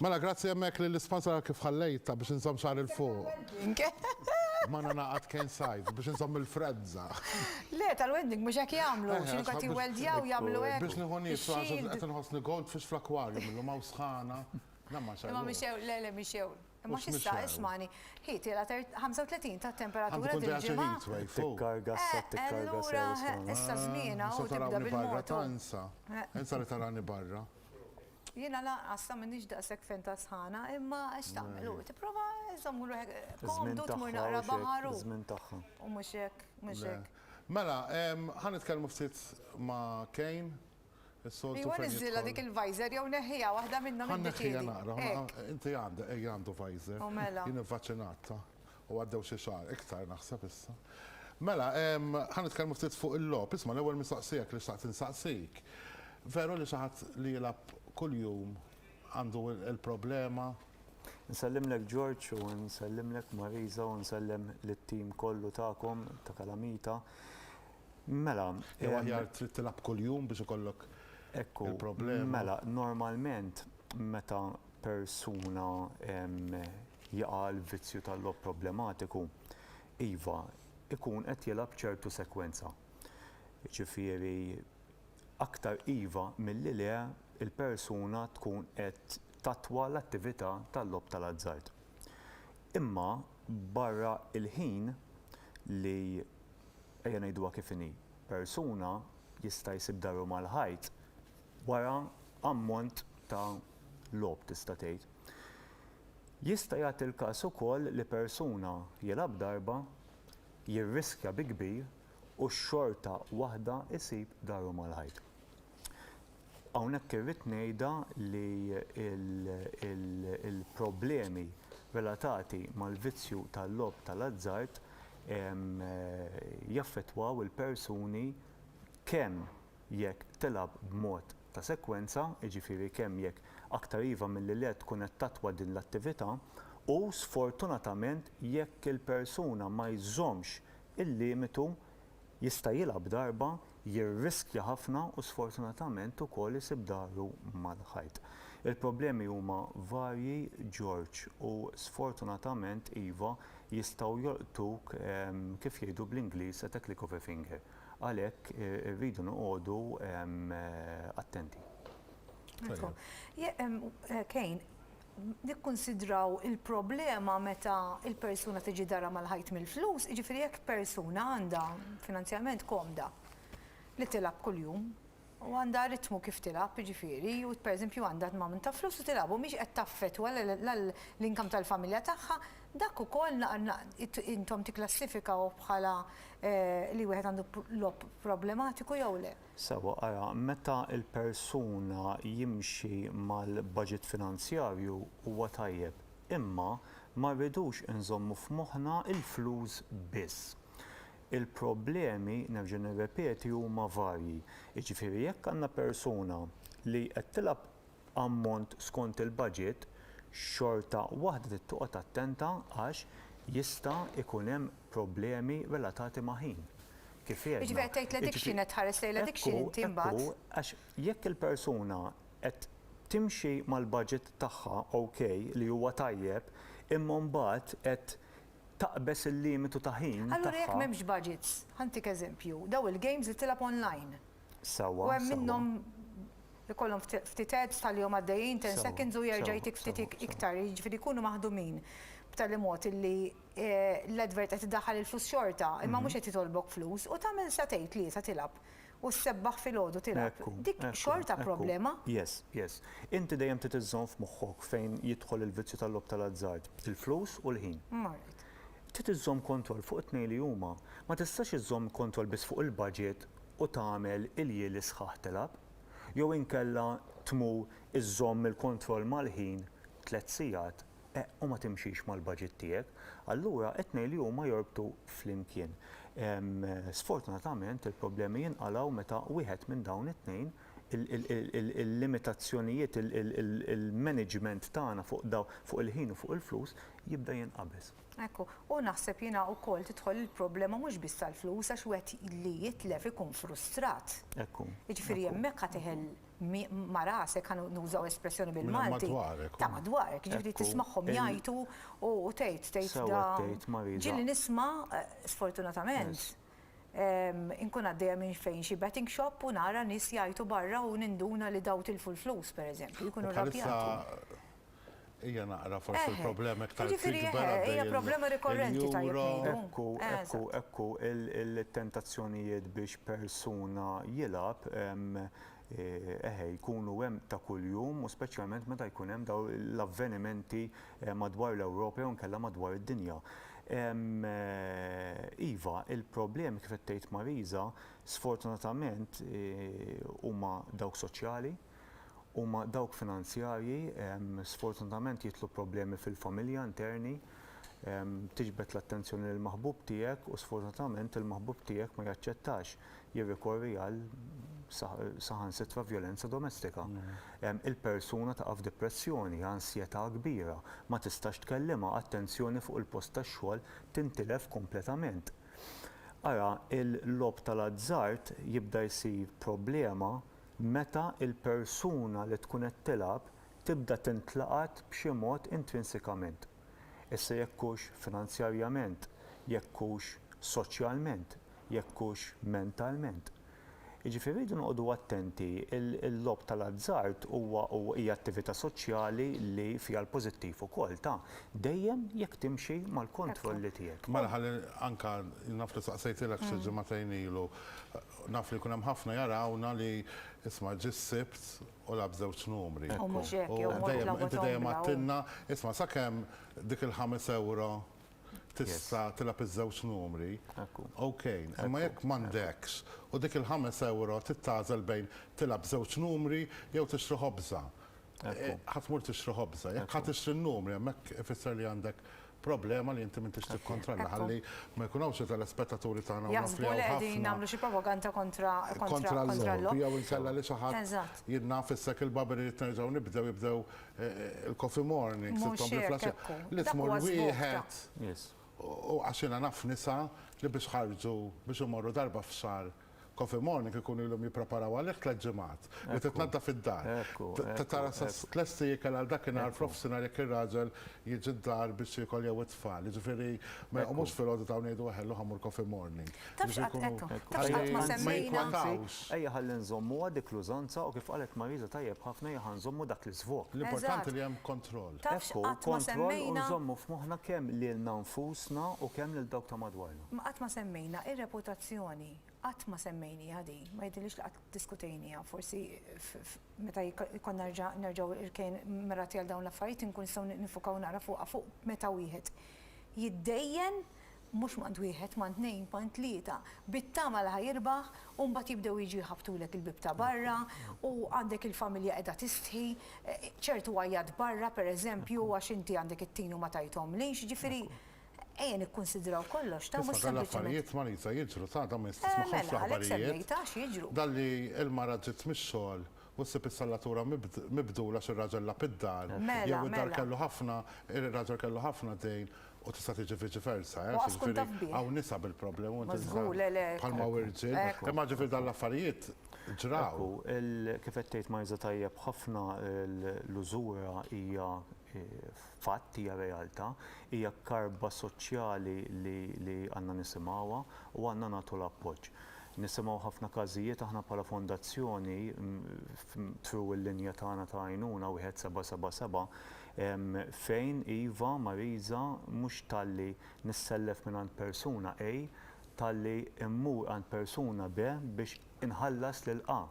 Mela grazzi hemmhekk lill-isponsor għal kif ħallejtha biex inżomm xagħri 'l fuq. Ma ningħaqad cane size biex inżomm il-freżża. Le, tal-wedding mhux hekk jagħmlu, x'inhu qed jiwweldjaw jagħmlu hekk. Biex nieħu niees, għax qed inħossni goldfish fl-aquarium illum hawn sħana. Le ma xegħlux. Imma mixew, le le mixew. Imma x'issa, ismagħni, hi tilgħa 35 ta' temperatura dil-ġimgħa. Għandu jkun ġej xi heat wave fuq. Tikkarga issa, tikkarga sew isma'. Issa żmienha u tibda bil-mod. Insa li tarani barra. Jiena lanqas sa m'iniex daqshekk fen tas-sħana, imma x'tagħmel hu tipprova żomm ruħek komdu tmur naqra baħar u. Iż-żmien tagħha. U mhux hekk, mhux hekk. Mela, ħa nitkellmu ftit ma' Kane, is-soltu fejn. Ejwa niżżilha dik il-visor jew neħħiha, waħda minnhom iddeċiedi. Ħa nneħħiha naqra, inti għandek, ejja għandu visor. U mela. Jien ivvaċċinat, U għaddew xi xahar, iktar naħseb issa. Mela, ħa nitkellmu ftit fuq il-logħob. Isma' l-ewwel mistoqsijak li xtaqt insaqsik. Veru li xi ħadd li jilgħab kuljum għandu l-problema? Nsellimlek George u nsellimlek Marisa u nsellem lit-tim kollu tagħkom ta' Kalamita. Mela. Jew aħjar trid tilgħab kuljum biex ikollok il-problema? Ekku, mela normalment meta persuna jaqa' l-vizzju tal-logħob problematiku, iva, ikun qed jilgħab ċertu sekwenza. Jiġifieri aktar iva milli le l-persuna tkun qed tattwa l-attività tal-logħob tal-azzard. Imma barra l-ħin li, ejja ngħiduha kif inhi, persuna jista' jsib dahru mal-ħajt wara ammont ta' logħob tista' tgħid. Jista' jagħti l-każ ukoll li persuna jilgħab darba, jirriskja bi kbir u xorta waħda jsib daru malajr. Hawnhekk irrid ngħidha li l-problemi relatati mal-vizzju tal-logħob tal-azzard jaffettwaw il-persuni kemm jekk tilgħab b'mod ta' sekwenza, jiġifieri kemm jekk aktar iva milli le tkun qed tattwa din l-attività, u sfortunatament jekk il-persuna ma jżommx il-limitu jista' jilgħab darba, jirriskja ħafna u sfortunatament ukoll isib dahru mal-ħajt. Il-problemi huma varji George u sfortunatament iva jistgħu jolqtuk kif jgħidu bl-Ingliż at a click of a finger. Għalhekk irridu noqogħdu attenti. Kane, nikkunsidraw il-problema meta l-persuna tiġi darha mal-ħajt mill-flus, jiġifieri jekk persuna għandha finanzjalment komda li tilgħab kuljum, U għandha ritmu kif tilgħab, jiġifieri, u pereżempju għandha amount ta' flus u tilgħab u mhix qed taffettwa la l-income tal-familja tagħha, dak ukoll intom tikklassifikaw bħala li wieħed għandu logħob problematiku jew le? Sewwa, ara, meta l-persuna jimxi mal-baġit finanzjarju huwa tajjeb, imma ma rridux inżommu f'moħħna l-flus biss. Il-problemi, nerġa' nirrepeti, huma varji. Jiġifieri jekk għandna persuna li qed tilgħab ammont skont il-baġit, xorta waħda trid toqgħod attenta għax jista' jkun hemm problemi relatati ma' ħin. Kif għedna. Jiġifieri qed tgħid l-addiction, qed tħares lejn l-addiction inti mbagħad. Ekku, ekku, għax jekk il-persuna qed timxi mal-baġit tagħha, okay, li huwa tajjeb, imma mbagħad qed taqbeż il-limitu ta' ħin tagħha. Allura jekk m'hemmx budgets, ħa ntik eżempju, dawn il-games li tilgħab online. Sewwa. U hemm minnhom ikollhom ftit ads tħallihom għaddejjin ten seconds u jerġa' jtik ftit iktar, jiġifieri jkunu maħdumin b'tali mod illi l-advert qed iddaħħal il-flus xorta imma mhux qed jitolbok flus u tagħmel sa tgħid li sa tilgħab. u ssebbaħ filgħodu tilgħab. Dik xorta problema. Yes, yes. Inti dejjem trid iżżomm f'moħħok fejn jidħol il-vizzju tal-logħob tal-azzard, il-flus u l-ħin. Marret. Trid iżżomm kontroll fuq it-tnejn li huma. Ma tistax iżżomm kontroll biss fuq il-budget u tagħmel iljieli sħaħ tilgħab. Jew inkella tmur iżżomm il-kontroll mal-ħin tliet sigħat u ma timxix mal-budget tiegħek, allura qed ngħid li huma jorbtu flimkien. Sfortunatament il-problemi jinqalgħu meta wieħed minn dawn it-tnejn, il-limitazzjonijiet, il-management tagħna fuq il-ħin u fuq il-flus, jibda jinqabeż. Hekk hu. U naħseb jiena wkoll tidħol il-problema mhux biss tal-flus għax wieħed li jitlef ikun frustrat. Hekk hu. Jiġifieri hemmhekk ħa teħel ma' rasek, ħa nużaw espressjoni bil-Malti, ta' madwarek, ġifieri tismagħhom jgħajtu u tgħid, tgħid da. Ġieli nisma', sfortunatament, inkun għaddejja minn fejn xi betting shop u nara nies jgħajtu barra u ninduna li daw tilfu l-flus, pereżempju, jkunu rrabjati. Ejja naqra forsi l-problema iktar tikber. Jiġifieri eħe, hija problema rikorrenti tajjeb ngħidu. Ekku, ekku, ekku il-tentazzjonijiet biex persuna jilgħab eħe jkunu hemm ta' kuljum u speċjalment meta jkun hemm dawn l-avvenimenti madwar l-Ewropa jew inkella madwar id-dinja. Iva, il-problemi kif qed tgħid Marisa sfortunatament huma dawk soċjali, huma dawk finanzjarji, sfortunatament jidħlu problemi fil-familja interni, tiġbed l-attenzjoni lill-maħbub tiegħek u sfortunatament il-maħbub tiegħek ma jaċċettax jirrikorri għal saħansitra vjolenza domestika. Il-persuna taqa' f'dipressjoni, ansjetà kbira, ma tistax tkellimha, attenzjoni fuq il-post tax-xogħol tintilef kompletament. Ara, il-logħob tal-azzard jibda jsir problema meta l-persuna li tkun qed tilgħab tibda tintlaqat b'xi mod intrinsikament, issa jekk hux finanzjarjament, jekk hux soċjalment, jekk hux mentalment. Jiġifieri rridu noqogħdu attenti, il-logħob tal-azzard huwa hija attività soċjali li fiha l-pożittiv ukoll ta', dejjem jekk timxi mal-kontrolli tiegħek. Mela ħalli anke, naf li saqsejtilek xi ġimagħtejn ilu, Naf li jkun hemm ħafna jarawna li isma' ġie s-Sibt u lagħab żewġ numri. U mhux hekk, jew mort lagħbu tombola. Inti dejjem għadtilna, isma' sakemm dik il-ħames ewro tista' tilgħab iż-żewġ numri, okej. Imma jekk m'għandekx u dik il-ħames ewro trid tagħżel bejn tilgħab żewġ numri jew tixtri ħobża, Ħadd mur tixtri ħobża, jekk ħadd tixtri n-numri hemmhekk ifisser li għandek problema li inti m'intix tikkontrolla ħalli ma jkun hawnx telespettaturi tagħna u naf li hawn ħafna. Jaħsbu li qegħdin nagħmlu xi propaganda kontra kontra l-logħob. Jew inkella li xi ħadd jidna fissek il-babri li terġgħu nibdew jibdew il-coffee morning. Li tmur wieħed u għax jiena naf nisa li biex ħarġu biex imorru darba f'xahar Coffee Morning ikunu ilhom jippreparaw għalih tliet ġimgħat, li titnaddaf id-dar. Tara sa tlesti ikel għal dakinhar f'nofsinhar jekk ir-raġel jiġi d-dar biex jiekol jew it-tfal. Jiġifieri ma joqomux filgħodu dawn jgħidu eħe llum ħa mmur Coffee Morning. Tafx qatt għedthom, tafx qatt ma semmejna. Ejja ħalli nżommuha dik l-użanza u kif qalet Marisa tajjeb ħafna ejja ħa nżommu dak l-iżvok. L-importanti li hemm kontroll. Tafx qatt ma semmejna. Hu kontroll u nżommu f'moħħna kemm lilna nfusna u kemm lil dawk ta' madwarna. Ma qatt ma semmejna r-reputazzjoni, qatt ma semmejnieha din, ma jidhirlix li qatt diskutejnieha, forsi meta jkollna nerġgħu irkejn mirati għal dawn l-affarijiet inkun nistgħu niffukaw naqra fuqha, fuq meta wieħed jiddejjen mhux m'għand wieħed, m'għand tnejn, m'għand tlieta, bit-tama li ħa jirbaħ u mbagħad jibdew jiġu jħabbtulek il-bieb ta' barra u għandek il-familja qiegħda tistħi, ċertu għajjat barra pereżempju għax inti għandek it-tin u ma tajthomlix, jiġifieri Ejja nikkunsidraw kollox, ta' mhux sempliċement. Issa dal-affarijiet Marisa jiġru ta' dawn issa tismagħhomx l-aħbarijiet. Mela, għalhekk semmejt għax jiġru. Dalli l-mara ġiet mix-xogħol u ssib is-sallatura mibdula għax ir-raġel lagħab id-dar. Mela, mela. Jew id-dar kellu ħafna, ir-raġel kellu ħafna dejn u tista' tiġi viċi versa. U qatt tkun taf bih. Hawn nisa bil-problema u inti tista'. Mażgur, le, le. Bħalma hawn irġiel. Imma ġifieri dal-affarijiet ġraw. Kif qed tgħid Marisa tajjeb ħafna l-użura hija fatt, hija realtà, hija karba soċjali li li għandna nisimgħuha u għandna nagħtu l-appoġġ. Nisimgħu ħafna każijiet aħna bħala fondazzjoni through il-linja tagħna ta' għajnuna wieħed seba' seba' seba' fejn iva Marisa mhux talli nissellef mingħand persuna A talli mmur għand persuna B biex inħallas lil A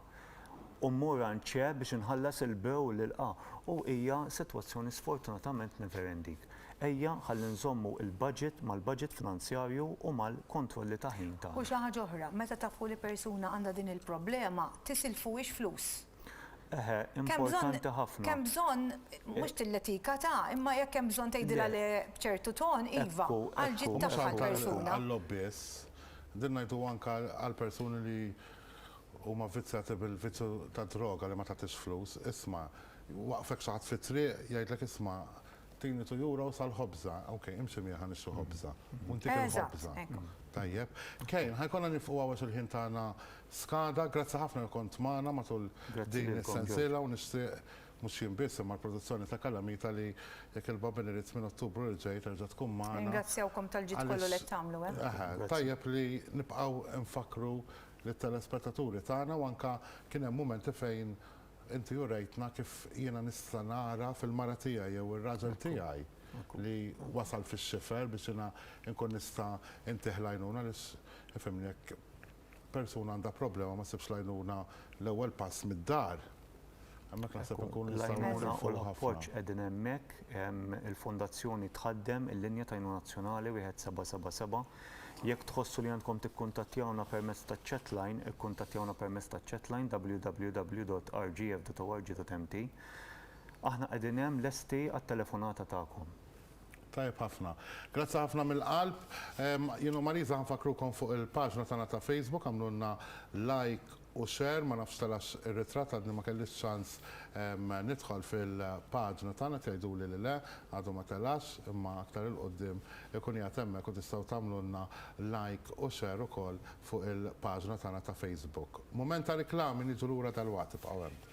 u mmur għand C biex inħallas il-B u lil A u hija sitwazzjoni sfortunatament never ending. Ejja ħalli nżommu l-budget mal-budget finanzjarju u mal-kontrolli ta' ħin tagħna. U xi ħaġa oħra, meta tafu li persuna għandha din il-problema, tisilfuhiex flus. Eħe, importanti ħafna. Kemm bżonn mhux tilletika ta' imma jekk hemm bżonn tgħidilha le b'ċertu ton, iva, għal ġid tagħha l-persuna. Għall-logħob biss, din ngħidu anke għall-persuni li huma vvizzjati bil-vizzju tad-droga li ma tagħtix flus, isma' jwaqqfek xi ħadd fit-triq jgħidlek isma' tini two euros għall-ħobża, ok, imxi miegħi ħa nixtri ħobża u ntik il-ħobża. Tajjeb. Kane, ħa jkollna nieqfu hawn għax il-ħin tagħna Skada, grazzi ħafna li kont magħna matul din is-sensiela u nixtieq mhux jien biss imma l-produzzjoni ta' Calamita li jekk il-Baben irid minn Ottubru li ġej terġa' tkun magħna. Ningrazzjawkom tal-ġid kollu li qed tagħmlu. Eħe, tajjeb li nibqgħu nfakkru lit-telespettaturi tagħna u anke kien hemm mumenti fejn inti urejtna kif jiena nista' nara fil-mara tiegħi jew ir-raġel tiegħi li wasal fix-xifer biex jiena nkun nista' ntih l-għajnuna għaliex ifhimni jekk persuna għandha problema ma ssibx l-għajnuna l-ewwel pass mid-dar, hemmhekk naħseb inkunu nistgħu nifilħu ħafna. L-għajnuna u l-appoġġ qegħdin hemmhekk. Il-Fondazzjoni tħaddem il-linja ta' għajnuna nazzjonali 1777. Jekk tħossu li għandkom tikkuntattjawna permezz taċ-chat line, ikkuntattjawna permezz taċ-chat line www.rgf.org.mt. Aħna qegħdin hemm lesti għat-telefonata tagħkom. Tajjeb ħafna. Grazzi ħafna mill-qalb. Jien u Marisa ħanfakkrukom fuq il-paġna tagħna ta' Facebook għamlulna like u share, ma nafx telax ir-ritratt għadni ma kellix ċans nidħol fil-paġna tagħna qed jgħiduli li le, għadu ma telax, imma aktar 'il quddiem ikun qiegħed hemmhekk u tistgħu tagħmlulna like u share ukoll fuq il-paġna tagħna ta' Facebook. Mument ta' riklami niġu lura dalwaqt ibqgħu hemm.